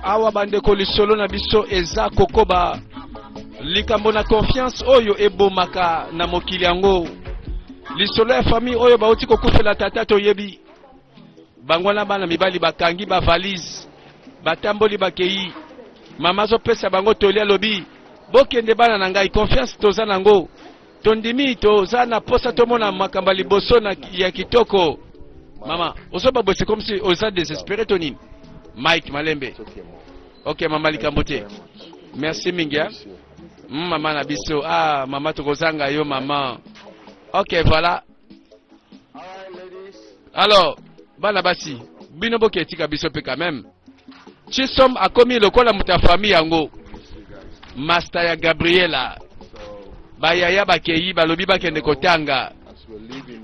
awa bandeko lisolo na biso eza kokoba likambo na confiance oyo ebomaka na mokili yango lisolo ya famille oyo bauti kokufela tata toyebi bango na bana mibali bakangi bavalise batamboli bakei mama azopesa bango toli alobi bokende bana na ngai confiance toza nango Tondimi toza na posa tomona makambo ya liboso na ya kitoko. Mama, ozo ba bosse comme si oza désespéré to nini? Mike Malembe. Ok mama likambo te. Merci mingi. Hein? Mama na biso. Ah mama tokozanga yo mama. Ok voilà. Alors, bana basi, bino boke tika biso pe quand même. Chisom akomi lokola muta famille yango. Master ya Gabriela. Bayaya bakeyi balobi bakende kotanga.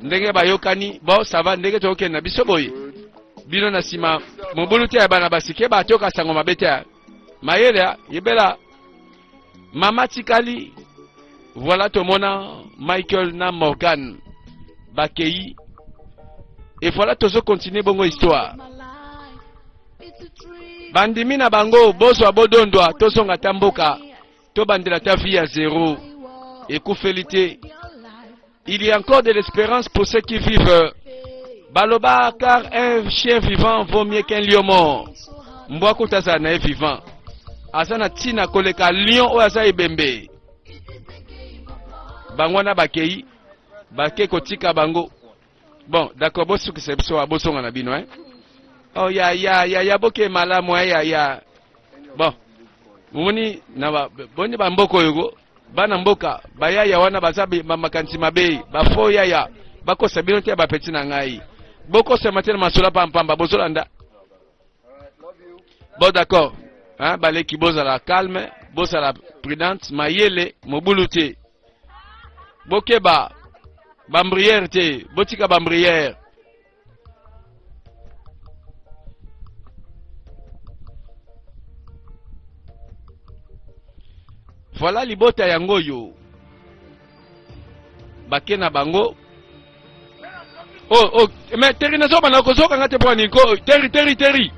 Ndenge bayokani, bon ça va ndenge tokende na biso boye. Bino na sima mobulu te ya bana basi ke batoka sango mabete. Mayele yebela mama tikali voilà tomona michael na morgan bakei et voilà tozo continue bongo histoire bandimi na bango bozwa bodondwa tozonga ata mboka tobandela ata vie ya zero ekufeli te Il y a encore de l'espérance pour ceux qui vivent. Baloba, car un chien vivant vaut mieux qu'un lion mort. Mbwa kutaza na vivant. Azana tina koleka lion oyo aza ebembe. Bango na bakei bake kotika bango. Bon, d'accord, bosukisa biso wa bosonga na bino hein. Oh ya ya ya ya boke malamu ya ya. Bon. Mumoni na ba boni ba mboko yogo. bana mboka bayaya wana baza makanisi mabe bafo yaya bakosa bino te bapeti na ngai bokosama te na masolo pampamba bozolanda bon d'accord hein, baleki bozala calme bozala prudente mayele mobulu te bokeba bambriere te botika bambriere Voilà libota yango oyo bake na bango oh, oh, mais teri nazoba na kozoka nga te mpo nini teri teri teri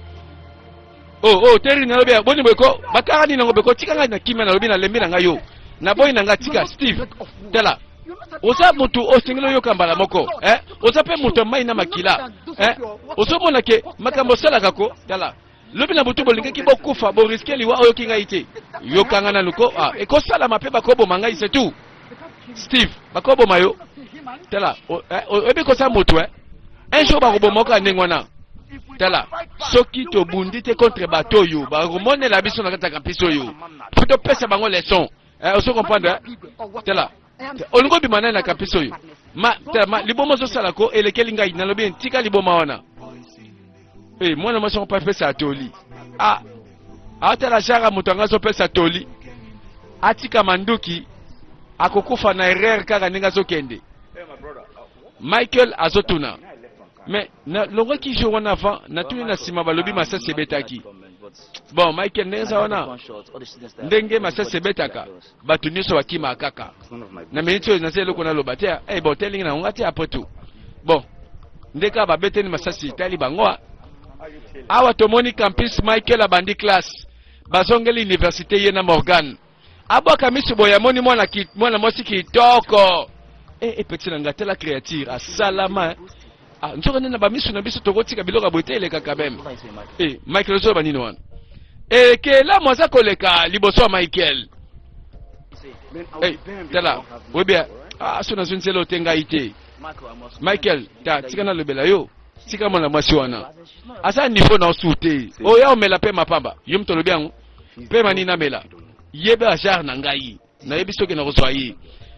oh oh teri na lobi boni boye ko bakanga nini yango beko tika ngai na kimia nalobi nalembi na ngai yo naboyi na ngai tika steve tala oza motu osengeli oyoka mbala moko eh? oza mpe moto ya mai na makila eh? ozomona ke makambo osalaka ko tala lobi na butu bolingaki bokufa boriske liwa oyoki ngai te yokanga nanu ko ah, ekosalama mpe bakoboma ngai setu Steve, bakoboma yo. Tala, eh, oyebi kosala moto eh? Un jour bakoboma oka ndenge wana. Tala, soki tobundi te contre bato oyo bakomonela biso na kati ya kampisi oyo, mpo topesa bango leson. Eh, ozo comprendre? Eh? Tala, olingi obima nani na kampisi oyo? Ma, tala, ma, liboma ozosala ko elekeli ngai, nalobi ntika liboma wana. Hey, eh, mwana mwasi yango mpe apesa toli ah, atala jara moto yango azopesa toli atika manduki akokufa na erreur kaka ndenge azokende michael azotuna me nalongaki jour wana avant natuni na nsima balobi masasi ebetaki bon michael ndenge eza wana ndenge masasi ebetaka bato nyonso bakima kaka na miniti oyo naza eloko naloba te eh, bon telingi na ngonga te après tout bon nde kaka babeteli masasi etali bango ah. awa tomoni campus michael abandi classe bazongeli université ye na morgane abwaka miso boye amoni mwana, mwana mwasi kitoko e eh, epeti eh, na ngai tala créature asalama eh. Ah, nzoka nde na bamiso na biso tokotika biloko ya boye te eleka quand même e eh, michael ozoloba nini wana ekelamu eh, aza koleka liboso ya michael eh, tala webia ah, so nazwi nzela ote ngai te michael ta tika nalobela yo tika mwana mwasi wana aza niveau na osu te oya omela mpe mapamba yo moto olobi yango mpe mani namela yeba genre na ngai nayebi soki nakozwa ye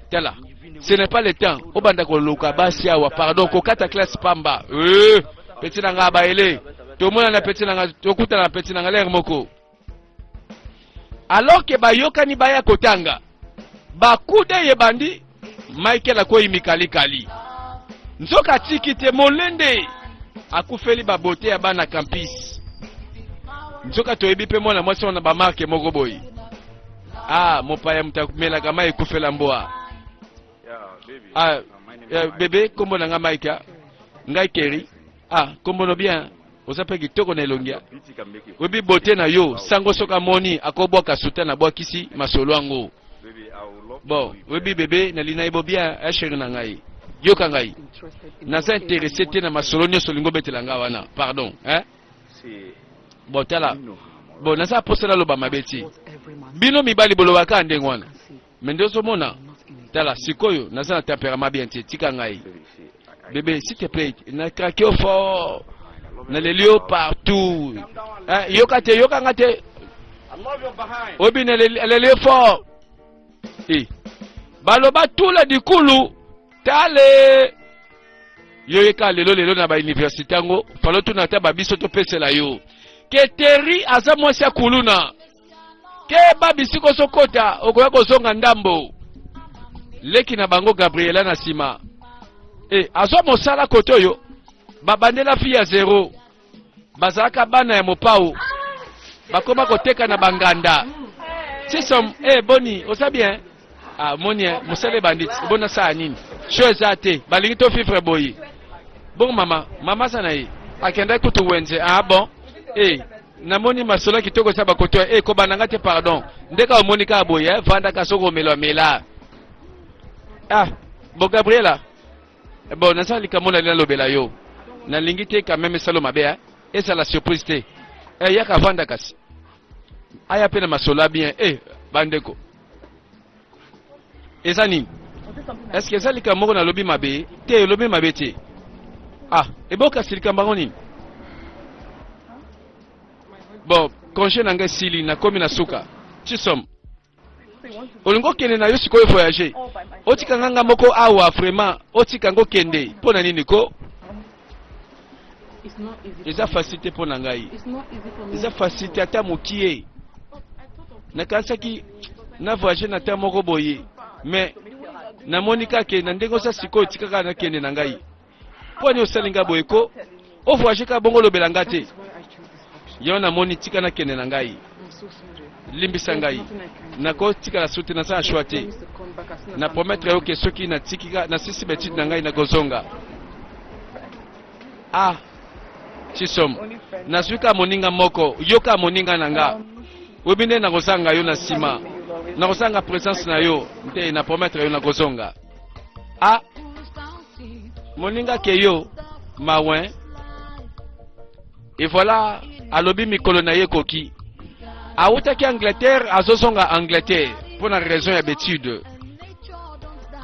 tala ce n'est pas le temps obanda koluka basi awa pardon kokata classe pamba euh, peti na ngai abayele tomonana peti na ngai tokutana na peti na ngai lere moko alors ke bayokani baya kotanga bakude eyebandi michael akwei mikalikali nzoka atiki te molende akufeli babote ya bana campus nzoka toyebi mpe mwana mwasi wana bamarke moko boye Ah, mopaya moto amelaka mai ekufela mboa. Ah, eh, bebe, kombo na nga Mike. ah. Ngai Kerry. Ah, kombo no bien. Oza pe kitoko na elongia. Oyebi bote na yo, sango soka moni akobwaka suta na bwakisi masolo yango. Bon, oyebi bebe nalina ye bo bien, eh chérie na ngai. Yoka ngai. Naza interesse te na masolo nyonso olingi obetela nga wana. Pardon, hein? bon tala bon naza posa naloba mabe ti bino mibali bolobaka ndenge wana me nde ozomona tala sikoyo naza na temperament bien te tika ngai bebe s'il te plaît na krake yo fort naleli yo partout eh, yoka te yoka nga te oyebi naleli yo fort eh. baloba tula dikulu tale yo yeka lelo lelo na bauniversité yango falo tuna ata babiso topesela yo ke teri aza mwasi ya kuluna ke ba bisiko ozokota okoya kozonga ndambo leki na bango gabriela na nsima e azwa mosala kote oyo babandela fi ya zero bazalaka bana ya mopao bakoma koteka na banganda sisom e eh, boni oza bien ah, moni eh, mosala ebandi bona saa nini sho eza te balingi to fifre boyi bongo mama mama aza na ye akendaki kutu wenze ah bon e eh, namoni masolo kitoko esa bakoto e kobanda nga te pardon ndeka omoni kaka boye vandaka soki omelamela ah bo gabriela Eh bon, naza likambo na lina lobela yo. Na lingi te quand même salo mabe hein. Esa la surprise te. Eh yaka vanda kasi. Aya pe na masola bien. Eh bandeko. Eza nini? Est-ce que eza likambo na lobi mabe? Te lobi mabe te. Ah, eboka silikambo yango nini? Bon, congé na ngai sili nakomi na suka. Chisom. olingi okende na yo sikoyo voyage otika nga nga moko awa vraiment otika ngo kende mpo na nini ko eza facile te mpo na ngai eza facile te ata mokie nakanisaki na voyage na ta moko boye mais namoni kaka na ndenge oza sikoyo etikaka nakende na ngai Pwani osali nga boye ko o voyage ka bongo lobela nga te. Yo namoni tika nakende na ngai. Limbisa ngai. Nakotikala soute naza na choix te. Na promettre yo ke soki natiki nasisi betide na ngai nakozonga. Ah, chisom nazwi ka moninga moko yoka moninga na nga oyebi nde nakozanga yo na nsima nakozanga presence na yo nte na promettre yo nakozonga a ah, moninga ke yo mawen et voilà alobi mikolo na ye ekoki awutaki angleterre azozonga angleterre mpo na raison ya betude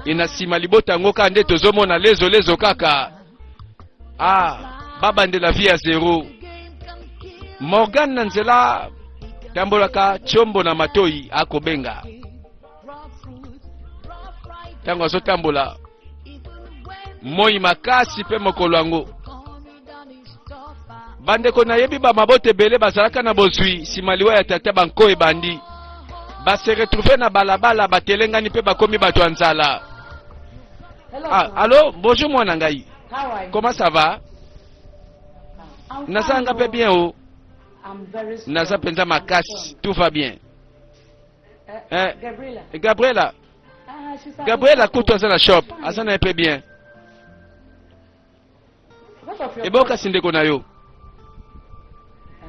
e na nsima libota yango kaka nde tozomona lezo lezo kaka ah babandela vie ya zero morgan na nzela tambolaka tiombo na matoi akobenga ntango azotambola moi makasi mpe mokolo yango bandeko nayebi bamabota ebele bazalaka na bozwi nsima liwa ya tata banko ebandi base retrouve na balabala batelengani mpe bakomi bato ya nzala ah, alo bonjour mwana ngai comment ça va nazanga mpe bien o oh. naza mpenza makasi tout va bien eh, Gabriela. Gabriela. Ah, Gabriela kutu aza na shop, aza na pe bien. Eboka si ndeko na yo.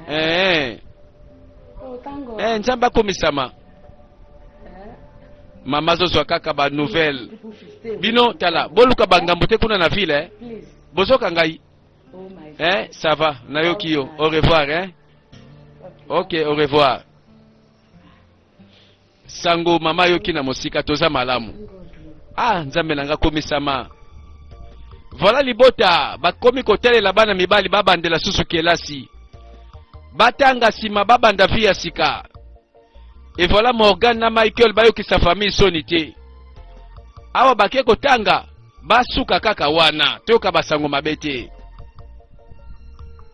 Eh. Oh, eh, Nzambe akomisama. Eh. Mama zozwa kaka ba nouvelle. Bino tala, boluka bangambo te kuna na ville eh. Bozoka ngai. Oh eh, ça va, nayoki yo. Au revoir eh. Ok, au revoir. sango mama yoki na mosika toza malamu ah nzambe na nga komisama voilà libota bakomi kotalela bana mibali babandela susu kelasi batanga nsima babanda vi ya sika e voilà morgan na michael bayokisa famille soni te awa bake kotanga basuka kaka wana toyoka basango mabe te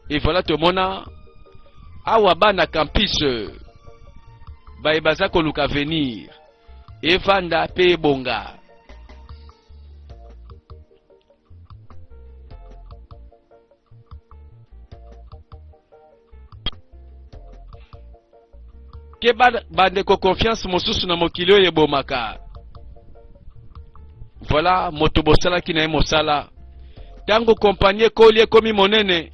evoila tomona awa bana campus baye baza koluka avenir evanda mpe ebonga keba bandeko confiance mosusu na mokili oyo ebomaka voilà moto bosalaki na ye mosala ntango kompani ekoli ekomi monene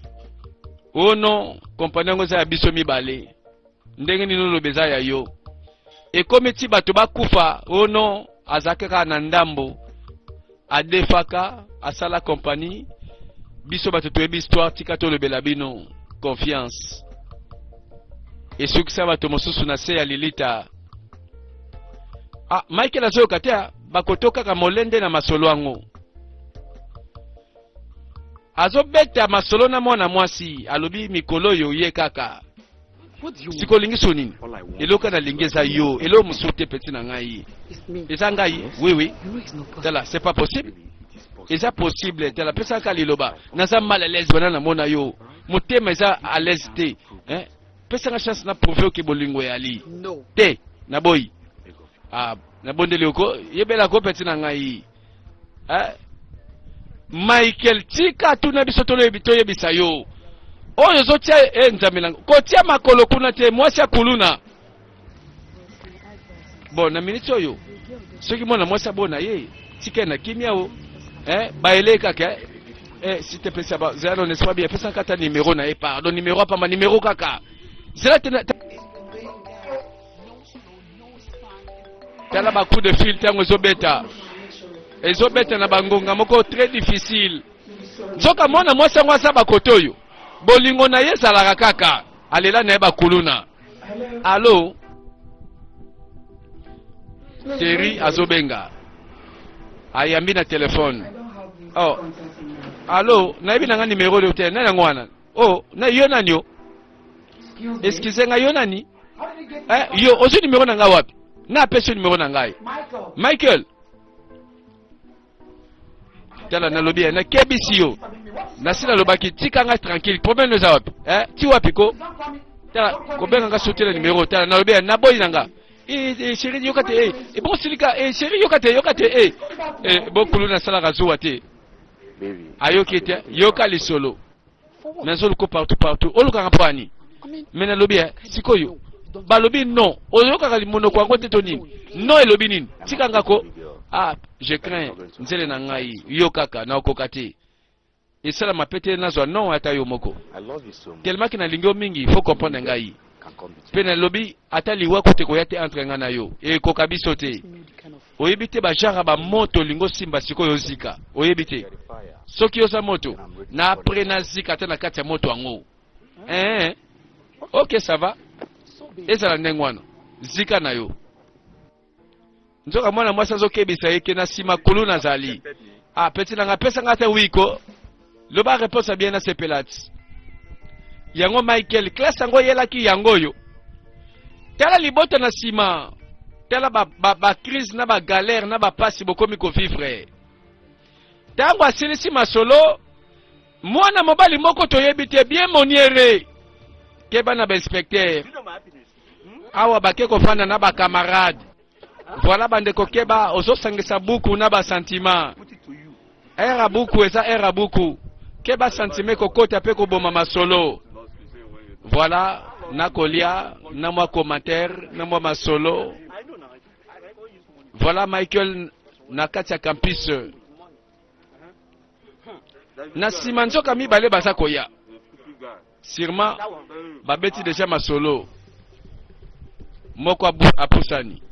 o no kompani yango eza ya biso mibale ndenge nini oloba eza ya yo ekomi ti bato bakufa o no azalaki kaka na ndambo adefaka asala compagnie biso bato toyebi histoire tika tolobela bino confiance esukisa bato mosusu na se ya lilita ah, michael azoyoka te ah, bakoto kaka molende na masolo yango azobeta masolo na mwana mwasi alobi mikolo oyo ye kaka siko olingi so nini eloko nalingi eza yo eloko mosusu te peti na ngai eza ngai wiwi tala c'est pas possible eza possible tala pesaka liloba naza mal à l'aise wana namona yo motema eza à l'aise te eh? pesanga chance na prouve oke bolingo eyali te naboyi ah, nabondeli oko yebela ko peti na ngai eh? Michael tika tuna biso toyebisa yo oyo ozotia e eh, nzambe nanga kotia makolo kuna te mwasi ya kuluna bon na miniti oyo soki mwana mwasi abona ye tika na kimia o eh, baele kaka eh, eh si te pesa ba zela no neswa bien pesa kata numero na ye pardon numero apamba numero kaka zela te tala ba coup de fil ntango ezobeta ezobeta na bangonga moko très difficile nzoka mwana mwasi yango aza bakote oyo bolingo na ye ezalaka kaka alela na ye bakuluna alo teri azobenga ayambi na telefone oh. alo nayebi na nga nimero oyo te nani yango wana oh na yo nani yo excuse nga yo nani eh, yo ozwi numero na ngai wapi na apesi yo numero na ngai michael tala nalobi ye nakebisi yo nasi nalobaki tika ngai tranquille problème eza wapi eh, ti wapi ko tala kobenga ngai sotela numero tala nalobi ye naboyi na ngai Eh, eh, chéri yoka te eh, eh, bon silika eh, chéri yoka te yoka te eh, eh, bokulu nasalaka zuwa te Baby. ayoki te yoka lisolo mais azoluka partout partout olukaka mpo ani mais nalobi eh, sikoyo balobi non oyokaka limonoko yango te to nini non elobi nini tika ngako ah je crains nzele na ngai yo kaka naokoka te esalama pe te nazwa non ata yo moko telemaki nalingi yo mingi faut comprendre ngai Mpe nalobi, ata liwa kutu ekoya te entre ngai na yo, ekoka biso te. Oyebi te bajara ba moto olingi osimba sikoyo ozika, oyebi te soki oza moto na apres nazika ata na kati ya moto yango. Eh, eh. ok sava, ezala ndenge wana, zika na yo. nzoka mwana mwasi azokebisa ye ke na nsima kulu nazali ah peti nanga apesa nga te wiko loba reponse ya bien nasepelati yango michael classe yango oyelaki yango oyo tala libota na nsima tala bacrise ba, ba na bagalere na bapasi bokomi kovivre ntango asilisi masolo mwana mobali moko toyebi te bien moniere keba na bainspectere awa bake kofanda na bakamarade voilà bandeko keba ozosangisa buku na basantima ere ya buku eza ere ya buku keba santima ekokota mpe koboma masolo voilà nakolia na mwa commentaire na mwa masolo voilà michael na kati ya campus na nsima nzoka mibale baza koya Sûrement babeti deja masolo. Moko apusani.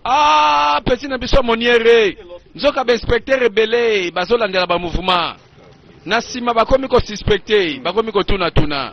Ah, petit na biso moniere. Nzoka ba inspecteur ebele bazolandela ba mouvement. Na sima bakomi ko suspecter, bakomi ko tuna tuna.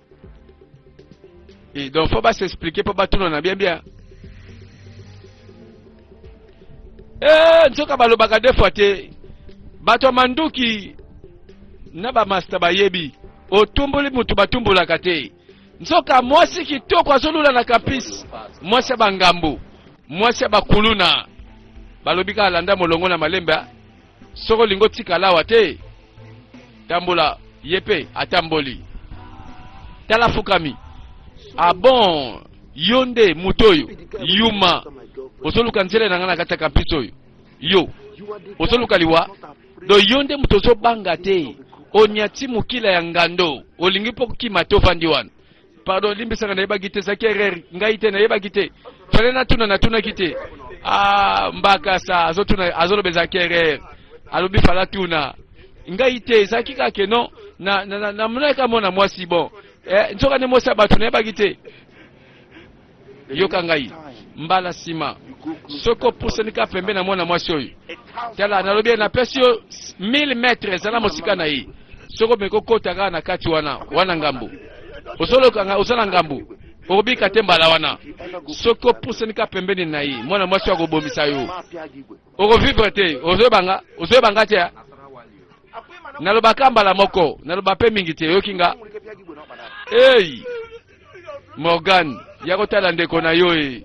Et donc faut pas s'expliquer pour battre na bien bien. Eh nzoka balobaka deux fois te. Bato ya manduki na bamasta bayebi otumboli moto batumbolaka te nzoka mwasi kitoko azolula na kapisi mwasi ya bangambo mwasi ya bakuluna balobi kaka landa molongo na malembe Soki olingi otikala awa te, tambola. Ye mpe atamboli. Tala fukami. Ah bon, yo nde moto oyo yuma ozoluka nzela na ngai na kati ya kampisi oyo yo ozoluka liwa do yo nde moto ozobanga te onyati mokila ya ngando olingi mpo kokima te ofandi wana pardon limbisaka nayebaki te ezalaki erreur ngai te nayebaki te fale natuna natunaki te ah, mbakasa azotuna azoloba ezalaki erreur alobi fala tuna ngai te ezalaki kaka ke non namonaki na, na, na, na mwana mwasi bon eh, nzoka nde mwasi ya bato nayebaki te Yoka ngai, mbala nsima soki opusani kaka pembe na mwana mwasi oyo, tala, nalobi ye, napesi yo 1000 metre, ezala mosika na ye. Soki omeki kokota kaka na kati wana, wana ngambo, ozolokanga, oza na ngambo, okobika te mbala wana. Soki opusani kaka pembeni na ye, mwana mwasi oyo akobomisa yo, okovivre te. Ozoyebanga, ozoyebanga te nalobaka mbala moko, naloba mpe mingi te, oyoki nga? Hey! Morgan, ya kotala ndeko na yo e.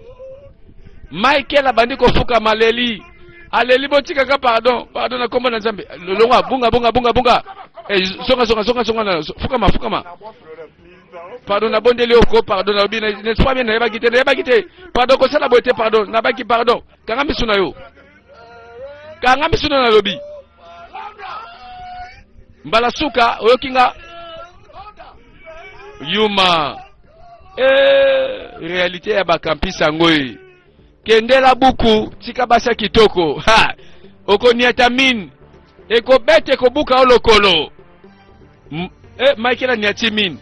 Michael abandi kofuka maleli. Aleli botikaka pardon, pardon na kombo na Nzambe. Lolonga bunga bunga bunga bunga. Eh, zonga zonga zonga zonga na fukama fukama. Pardon na bondeli oko pardon na bina ne soit bien na yebaki te na yebaki te. Pardon ko sala bote pardon na baki pardon. Kanga misu na yo. Kanga misu na lobi. mbala suka oyoki nga yuma e, realite ya bakampisi yango ye kendela buku tika basa kitoko ha okoniata mine ekobeta ekobuka o lokolo M e, michael aniati mine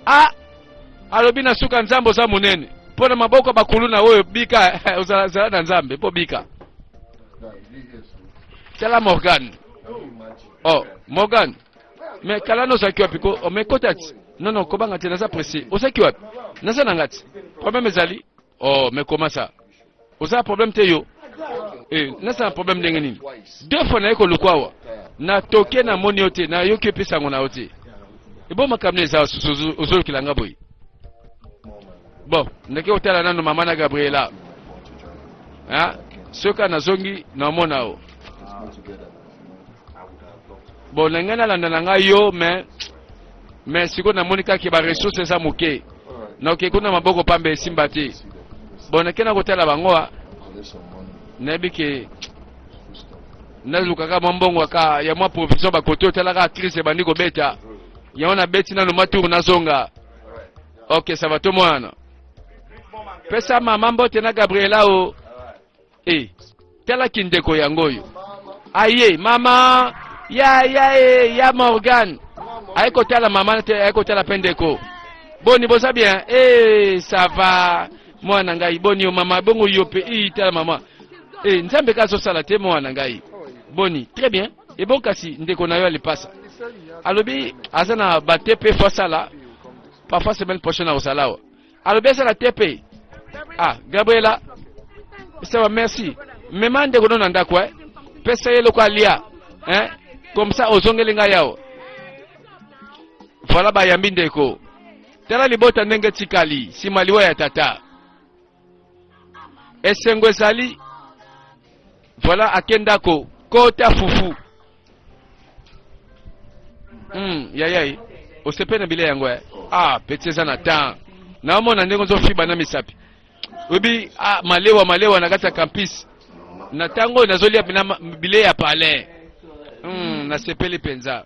a alobi na suka nzambe oza monene mpo na maboko ya bakuluna oyo bika ozala zala na nzambe mpo bika Tala Morgan. Oh, Morgan. Mais kala no zaki wapi ko oh, mais kota ti. Non non ko banga te naza pressé. O zaki wapi? Naza na ngati. Problème ezali. Oh, mais comment ça? Oza problème te yo. Eh, naza na problème ndenge nini? Deux fois na yeko lukwawa. Na toke na moni yo te, na yoki pesa ngo na yo te. Ebo makamne za susu ozolukila nga boye. bon ndeke otala nano mama na gabriela hein? soki kaka nazongi naomona yo bon na ngai nalanda na ngai yo mais mais sikoyo namoni kaka baressource eza moke naoke kuna maboko pamba esimba te bon nake na kotala bango a nayebi ke nalukaka mwa mbongo aka ya mwa provision bakote otalaka crise ebandi kobeta Yango na beti nanu mwa tour nazonga. Ok, ça va to mwana. Pesa mama mbote na Gabriela o. Eh, tala kindeko yango oyo. Aye, mama ya ya e, ya Morgan. Aye kotala mama te, aye kotala pendeko. Boni boza bien? Eh, ça va. Mwana ngai boni yo mama bongo yo pe i tala mama. Eh, Nzambe ka azosala te mwana ngai. Boni, très bien. Ebon kasi ndeko na yo ya lipasa alobi aza na ba TP fo asala parfois semaine prochaine akosala awa alobi asala TP ah Gabriela sawa merci mema ndeko no na ndako eh? pesa ye eloko alia eh? comme ça ozongeli ngai awa voilà bayambi ndeko tala libota ndenge etikali nsima liwa ya tata esengo ezali voilà ake ndako kota fufu mm, yayai osepe na bilei yango eh? ah peti eza na temps naomona ndenge ozofiba na misapi oyebi ah, malewa malewa na kati ya campus na ntango oyo nazolia bilei ya palais mm, nasepeli mpenza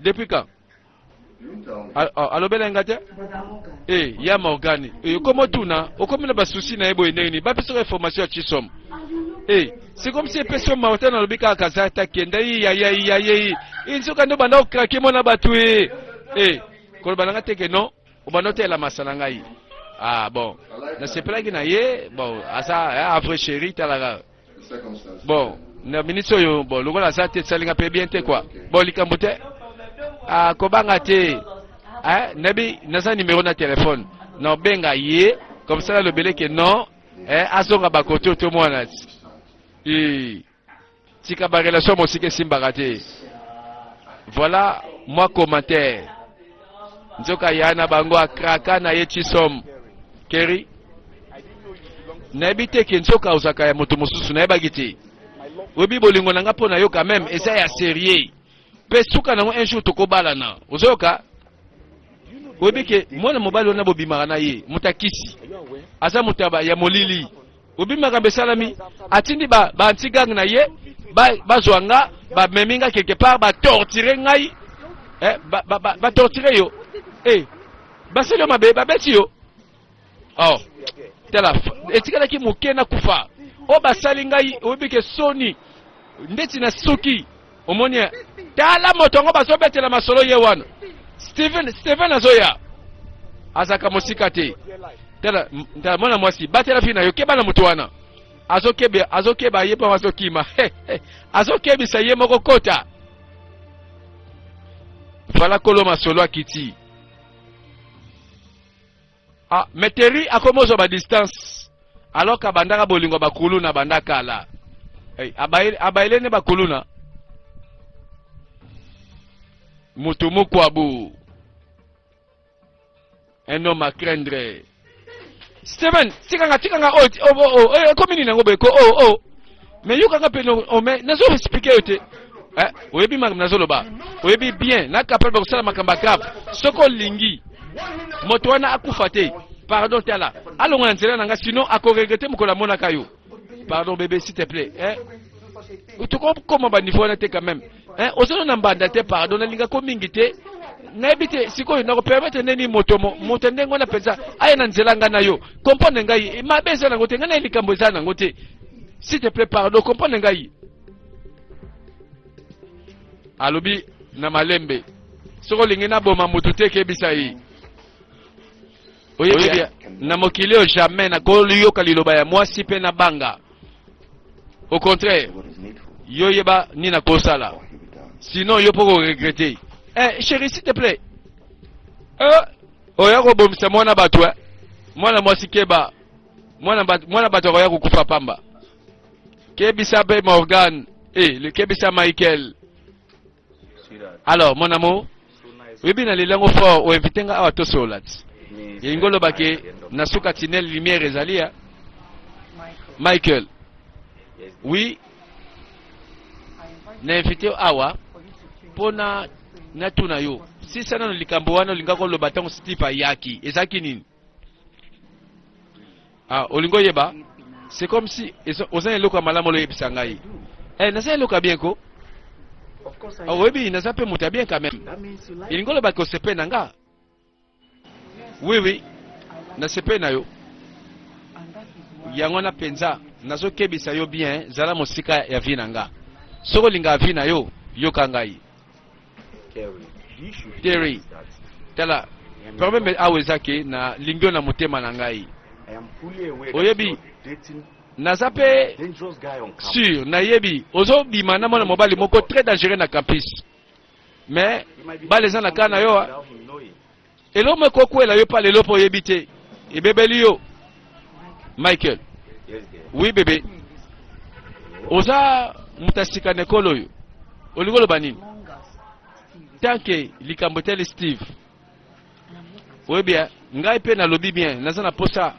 depuis quand alobela nga te e ya morgane eh, okomi otuna okomi na basusi na ye boye ndenge nini bapesaka information ya chisom e eh, sikomisi epesi yo mawa te nalobi kaka kaza ata kenda iyayaiyaye inzoka nde obanda okrake mwana bato e e koloba na nga teke non obanda oteyela masa na ngai ah bon nasepelaki na ye bon aza avre chéri talaka bon na minute oyo bon lokola aza te esalinga mpe bien te kua bon likambo te akobanga ah, te eh, nabi naza numero na telefone na obenga ye comme ça nalobele ke non eh, azonga bakoto to mwana tika barelation mosika esimbaka te voilà mwa commentaire nzoka ya na bango akraka na ye chisom keri nayebi te ke nzoka ozalaka ya moto mosusu nayebaki te oyebi bolingo na nga mpo na yo quand même eza ya serieux mpe suka nango un jour tokobalana ozoyoka oyebi ke mwana mobali wana bobimaka na ye moto akisi aza moto ya molili obi makambo esalami atindi ba, ba antigang na ye bazwa ba nga bamemi nga quelque part batortire ngai eh, batortire ba, ba, ba yo eh, basali yo mabe babeti yo oh, tala etikalaki moke na kufa oyo basali ngai oyebi ke soni ndeti na suki omoni ye tala moto yango bazobetela masolo ye wana steven steven azoya azalaka mosika te tala tala mwana mwasi batela fi na yo keba na moto wana azokeba azokeba ye mpo azokima azokebisa ye moko kota fala kolo masolo akiti Ah, mais Terry akomi ozwa ba distance alors abandaka bolingo bakuluna banda kala hey, abayele ne bakuluna mutu mukwabu un homme à craindre Steven tikanga tikanga oyo ekomi nini yango boye ko oyo oyo mais yo kaka pene ome nazo expliquer yo te eh, oyebi makambo nazoloba oyebi bien na kapal bakosala makambo ya grave soki olingi moto wana akufa te pardon tala alonga na nzela na ngai sinon akoregrete mokolo amonaka yo pardon bebe s'il te plaît eh? tokokoma baniveau wana te quand même eh, ozolo na mbanda te pardon nalinga ko mingi te nayebi te sikoyo nakopermetre ndeni moto moto ndenge wana mpenza aya na nzela ngai na yo comprendre ngai eh, mabe eza nango te ngai naye likambo eza nango te s'il te plaît pardon comprendre ngai alobi na malembe soki olingi naboma moto te kebisa ye oyebi na mokili oyo jamais nakoyoka liloba ya mwasi mpe na banga au contraire yo yeba nini nakosala sinon yo mpo koregrete eh, chéri s'il te plaît eh, oya kobomisa mwana bato eh? mwana mwasi keba mwana bato, mwana bato akoya kokufa pamba kebisa mpe morgan eh, kebisa michael Alors, mon amour, oyebi na leli yango fort oinvite nga awa tosolola ti elingi oloba ke na suka tinel lumière ezali ya michael oui na invite awa mpo na natuna yo sisa nano likambo wana olingaki oloba ntango steve ayaki ezalaki nini Ah, olingo yeba c'est comme si oza na eloko ya malamu oloyebisa ngai eh, naza na eloko ya bien ko ah, oyebi naza mpe moto ya bien quand même elingi oloba ke osepele na nga oui oui nasepele na yo yango wana mpenza nazokebisa yo bien zala mosika ya vi na nga soki olingaka vi na yo yoka ngai Terry, tala problème awa eza ke na lingio na motema na ngai oyebi naza mpe sur nayebi ozobima na mwana mobali moko très dangereux na campus mais bala eza na kaa na yo Eloko moko ekokwela yo pa lelo mpo oyebi te. Ebebeli yo. Michael. Oui bebe. Oza moto asika na ekolo oyo. Olingi oloba nini? Tanke likambo etali Steve. Oyebi ya ngai mpe nalobi bien naza na posa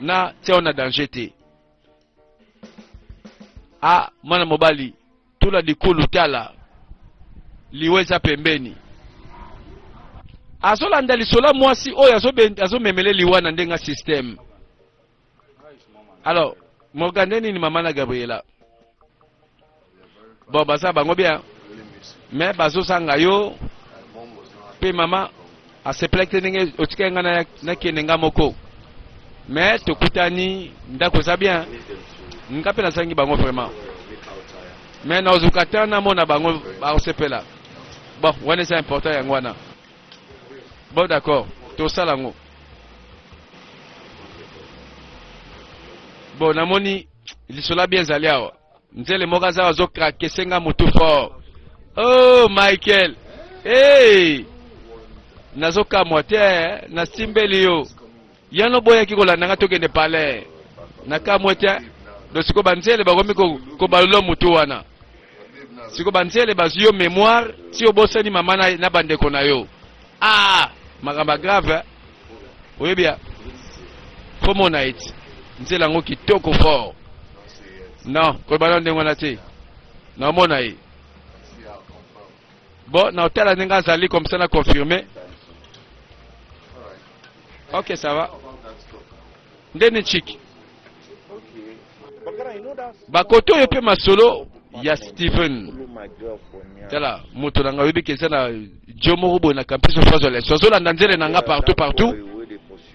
na tiao na danger te. Ah, mwana mobali, tula likulu tala liwa eza pembeni. Azolanda lisola mwasi oyo azomemele liwa na ndenga système. Alors, Morgan nini mama na Gabriela? bon baza bango bien mais bazozanga yo mpe mama asepelaki te ndenge otikaki ngai nakende ngai moko mais tokutani ndako eza bien nga mpe nazangi bango vraiment mais naozuka te namona bango bakosepela bon wana eza important yango wana bon d'accord tosala yango bon namoni lisola bien ezali awa nzele moko aza azokrake senga motu fort oh michael hey! nazokamwa te eh? nasimbeli yo yano boyaki kolanda nga tokende palais nakamwe te do siko banzele bakomi kobalula motu wana siko banzele bazwi yo mémoire ti obosani mama na, na bandeko na yo Ah, makambo grave hein? oyebi ya fo mona ete nzela yango kitoko fort non koyeba na ndenge wana te naomona ye bon na otala ndenge azali comme ça na confirme ok ça va nde ni chiki bakoto oyo mpe masolo ya Steven tala moto na ngai oyebi ke eza na jo moko boye na campus of azwa leso azolanda nzele na ngai partout partout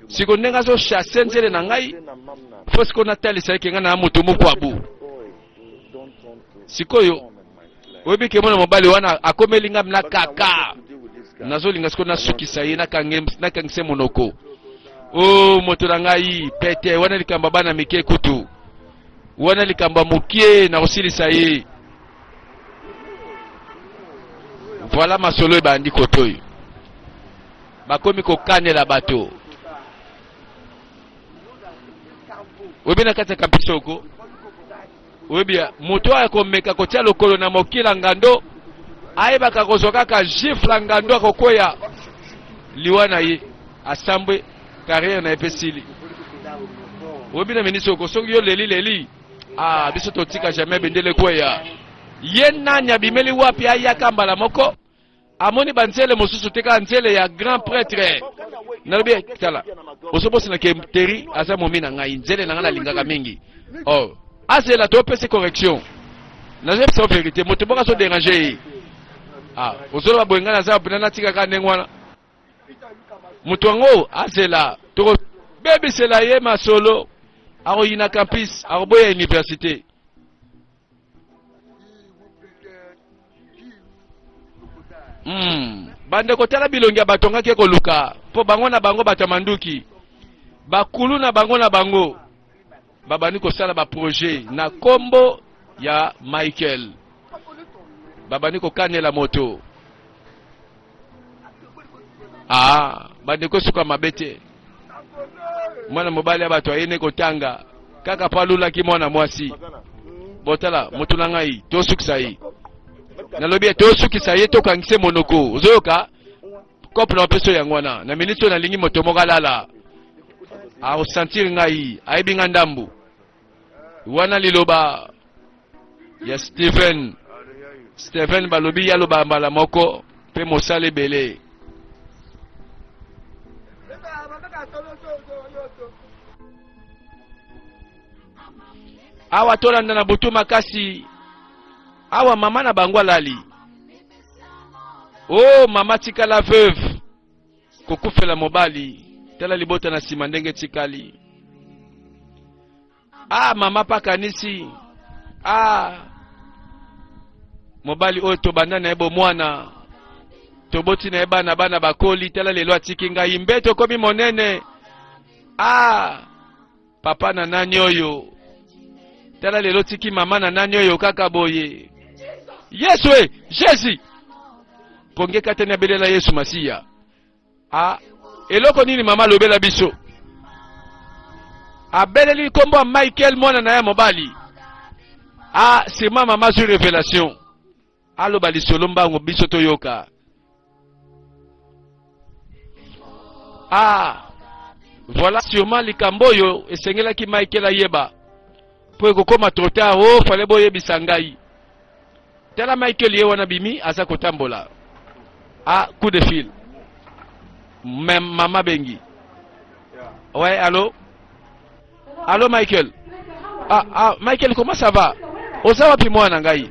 siko ndenge azochasse nzele na ngai fo siko natalisa eke ngai na moto moko abu sikoyo oyebi ke mwana mobali wana akomeli ngai na kaka nazolinga sikoyo nasukisa ye nakangise monoko o oh, moto na ngai pete wana likambo ya bana mike kutu wana likambo ya mokie na kosilisa ye voilà masolo ebandi kotoyo bakomi kokanela bato oyebi na kati ya kampisoko oyebi moto oyo akomeka kotya lokolo na mokila ngando ayebaka akozwa kaka gifle ngando akokweya liwa na ye asambwe carrière na ye mpe sili oyebi na ministre oko soki yo leli leli ah, biso totika jamais bendele kweya ye nani abimeli wapi ayaka mbala moko amoni banzele mosusu te kaka nzele ya grand pretre nalobi tala ozobosana ke teri aza momi na ngai nzele na ngai nalingaka mingi oh. azela topesi correction nazebisa verité moto moko azoderange ye ah, ozoloba boye ngai naza mpena natikaka ndenge wana moto yango azela tokobebisela ye masolo akoyina campus akoboya université Hmm. bandeko tala bilongi ya bato ngaki ekoluka mpo bango na bango bato ya manduki bakulu na bango na bango babandi kosala baprojet na nkombo ya michael babandi kokanela moto ah bandeko suka mabe te mwana mobali ya bato ayei ne kotanga kaka mpo alulaki mwana mwasi botala motu na ngai tosukisa ye nalobi ye tosukisa ye tokangise monoko ozoyoka kope na opeso yango wana na miniti oyo nalingi moto moko alala akosentir ngai ayebi ngai ndambu wana liloba ya Steven Steven balobi ya loba mbala moko mpe mosala ebele awa tolanda na butu makasi awa mama na bango alali o oh, mama tikala veuve kokufela mobali tala libota na nsima ndenge etikali a ah, mama mpe akanisi a ah, mobali oyo tobanda na ye bomwana toboti na ye bana bana bakoli tala lelo atiki ngai mbe tokomi monene a ah, papa na nani oyo tala lelo tiki mama na nani oyo kaka boye yesu e jesus pongi ekatani abelela yesu masiya a ah, eloko nini mama alobela biso abeleli nkombo ya michael mwana na ye mobali a ah, sima mama azwi revelation Aloba lisolo mbangu biso toyoka. Ah, voilà sûrement likambo oyo esengelaki Michael ayeba mpo ekokoma trop tard. Oh, fale boyebisa ngai. Tala Michael ye wana bimi aza kotambola. Ah, coup de fil. Mama bengi. Ouais, allô Allo Michael. Ah, ah, Michael, comment ça va? Oza wapi mwana ngai?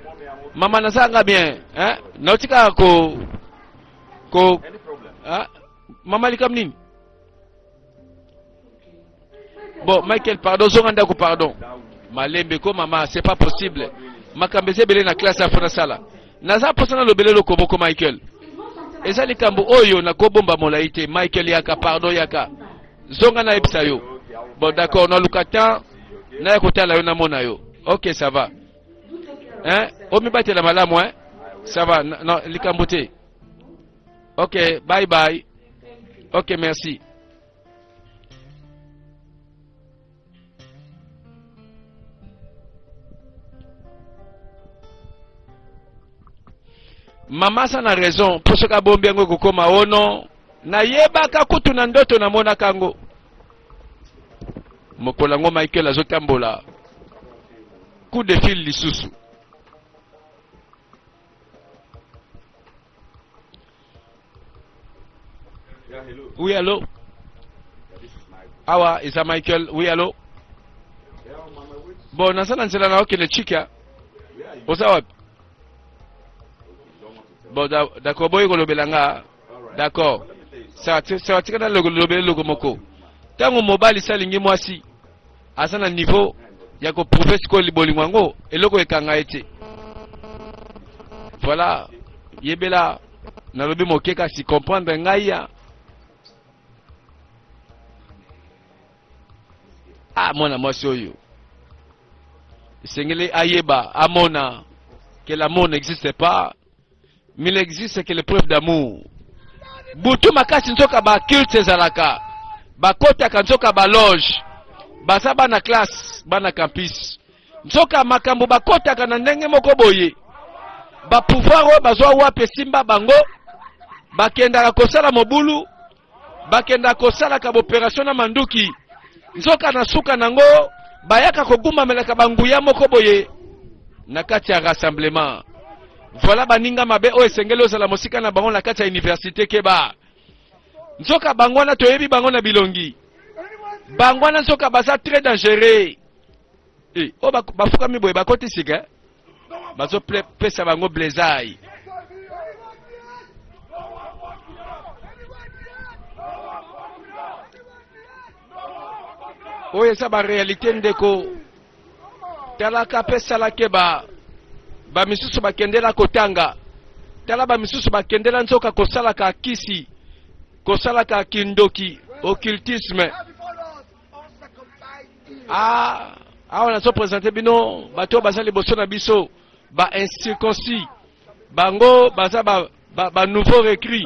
Mama naza nga bien, hein? Nauti kaka ko ko ah, mama likam nini? Bon, Michael, pardon, zonga ndako pardon. Malembe ko mama, c'est pas possible. Makambo eza ebele na classe afona sala. Naza mposa na lobele eloko moko Michael. Eza likambo oyo nakobomba molai te. Michael yaka, pardon yaka. Zonga nayebisa yo. Bon d'accord, naluka temps naya kotala yo namona yo. Ok, ça va. Hein? Omibatela malamu hein? Ça va, na, na, likambo te. Ok, bye bye. Ok, merci. mama aza na raison mpo soki abombi yango ekokoma ono nayebaka kutu na ndoto namonaka yango mokolo yango michael azotambola coup de fil lisusu Oui, allô Awa, ah Isa Michael. Oui, allô Bon, naza na nzela na okende chika. Oza wapi? Bon, d'accord, boye kolobela nga. D'accord. Saka tika na lobele loko moko. Tango mobali salingi mwasi aza na niveau ya ko prouver sikoyo bolingo yango eloko ekanga ye te. Voilà, yebela nalobi moke kasi comprendre ngai ya ah mwana mwasi oyo esengeli ayeba amona que l'amour n'existe pas mais il existe que l'épreuve d'amour butu makasi nzoka baculte ezalaka bakotaka nzoka baloge baza bana classe bana campus nzoka makambo bakotaka na ndenge moko boye bapouvoir oyo bazwa wapi esimba bango bakendaka kosala mobulu bakendaka kosalaka boperatio na manduki nzoka na suka na yango bayaka kogumamelaka banguya moko boye na kati ya rassemblement voilà baninga mabe oyo esengeli ozala mosika na bango na kati ya université keba nzoka bango wana toyebi bango na bilongi bango wana nzoka baza très dangereux e, eh, oyo oh, bafukami boye bakoti sika eh? bazo pesa bango blesai oyo eza barealité ndeko talaka mpe salake ba bamisusu bakendela kotanga tala bamisusu bakendela nzoka kosalaka kisi kosalaka kindoki occultisme Ah, awa nazo presente bino bato baza liboso na biso ba incirconcis bango baza ba, ba, ba nouveau recrue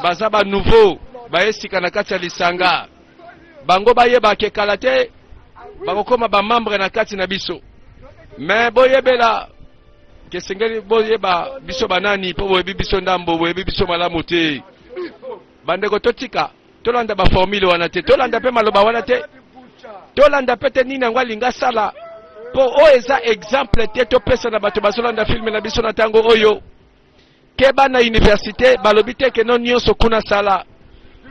baza ba nouveau baye sika na kati ya lisanga bango bayeba ke kala te bakokoma bamembre na kati na biso me boyebela kesengeli boyeba biso banani mpo boyebi biso ndambo boyebi biso malamu te bandeko totika tolanda baformule wana te tolanda mpe maloba wana te tolanda mpe te nini yango alinga asala mpo oyo eza exemple te topesa na bato bazolanda filme na biso na ntango oyo keba na université balobi te keno nyonso kuna sala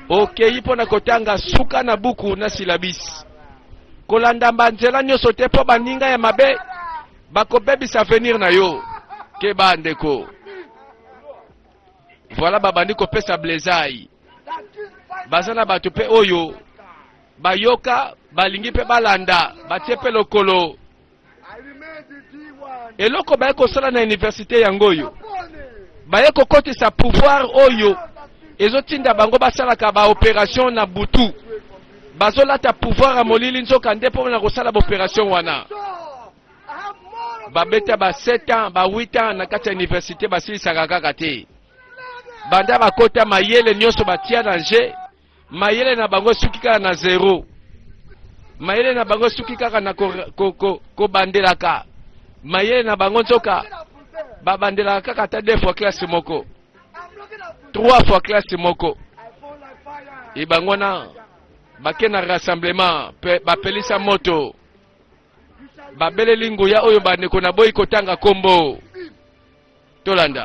okei mpo na kotanga suka na buku na silabisi kolanda banzela nyonso te mpo baninga ya mabe bakobebisa avenir na yo keba ndeko Voilà babandi kopesa blezai. Baza na bato mpe oyo bayoka balingi mpe balanda batie mpe lokolo eloko baye kosala na universite yango oyo baye kokotisa pouvoir oyo ezotinda bango basalaka baoperation na butu bazolata pouvoir ya molili nzoka nde mpo na kosala baoperation wana babeta ba 7 ans ba 8 ans na kati ya université basilisaka kaka te banda bakota mayele nyonso batia na je mayele na bango esuki kaka na zero mayele na bango esuki kaka na kobandelaka ko, ko, ko mayele na bango nzoka babandelaka kaka ata deux fois classe moko trois fois classe moko ebango na bakenda rassemblement bapelisa moto babeleli nguya oyo bandeko na boyi kotanga kombo tolanda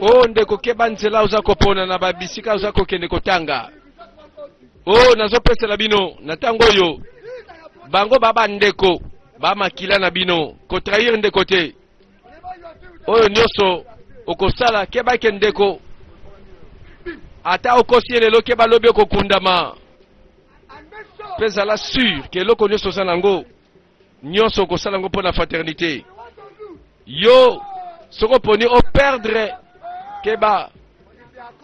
o oh, ndeko keba nzela oza kopona na babisika oza kokende kotanga o oh, nazopesela bino na ntango oyo bango ba bandeko bamakila na bino kotrahir ndeko te oyo nyonso okosala keba eke ndeko ata okosi ye lelo keba lobi okokundama mpe zala sur ke eloko nyonso oza na yango nyonso okosala yango mpo na fraternité yo soki oponi operdre keba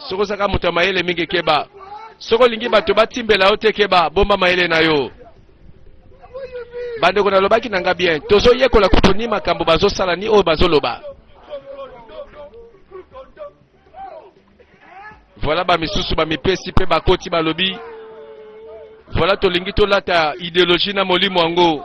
soki ozaka moto ya mayele mingi keba soki olingi bato batimbela yo te keba bomba mayele na yo bandeko nalobaki na nga bien tozoyekola kutu ni makambo bazosala ni oyo bazoloba voilà bamisusu bamipesi mpe bakoti balobi voilà tolingi tolata ideologie na molimo yango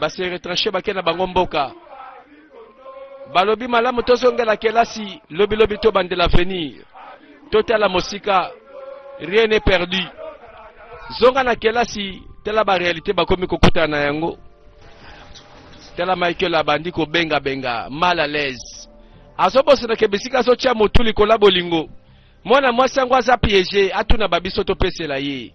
ba se retrancher bake na bango mboka balobi malamu tozongela kelasi lobilobi tobandela avenir totala mosika rien n'est perdu zonga na kelasi tala barealité bakomi kokutana na yango tala michael abandi kobengabenga mal à l'aise azobosanaka bisika azotya motu likolo ya bolingo mwana mwasi yango aza piege atuna babiso topesela ye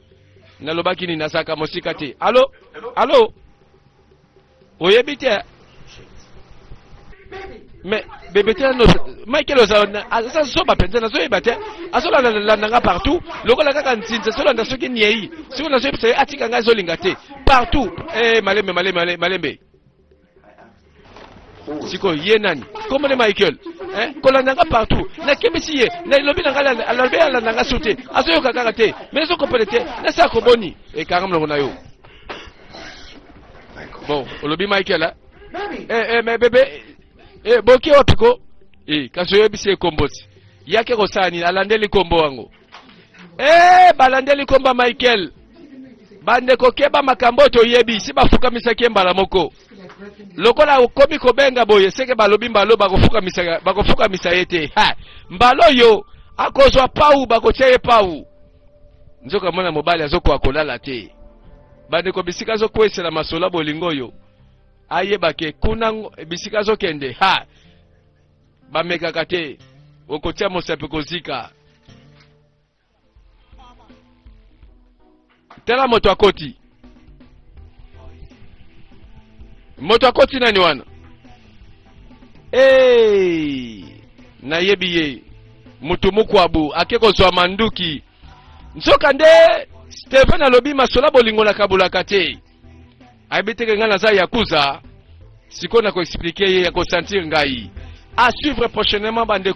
nalobaki nini nazalaka mosika te alo alo oyebi te me bebe te no michael ozala aza zoba mpenza nazoyeba te azolandalanda nga partout lokola kaka nzinzi azolanda soki niei soki nazoyebisa ye atika ngai azolinga te partout e malembe malembe malembe sikoyo ye nani kombo ne michael eh, kolanda nga partout nakebisi ye nalobi na ngai alobi alanda nga so te azoyoka kaka te mais ezokopele te nasala koboni ekanga eh, molongo na yo bon olobi michael a eh, eh, mais bebe eh, boki wapi ko eh, kasi oyebisi ye kombo ti yake kosala nini alandeli kombo yango Hey, eh, balandeli komba Michael bandeko keba makambo oyo toyebi si bafukamisaki ye mbala moko lokola okomi kobenga boye seke balobi mbalo bakofukamisa bakofukamisa ye te mbalo oyo akozwa pau bakotia ye pau nzoka mwana mobali azokoka kolala te bandeko bisika azokwesela masolo ya bolingo oyo ayebake kuna bisika azokende ha bamekaka te okotia mosapi kozika tala moto akoti moto akoti nani wana hey! nayebi ye motu mokwabu ake kozwa manduki nzoka nde steven alobi masola bolingo na kabulaka te ayebi teke ngai naza yakuza sikoyo na koexplike ye ya kosentir ngai a suivre prochainement bandeko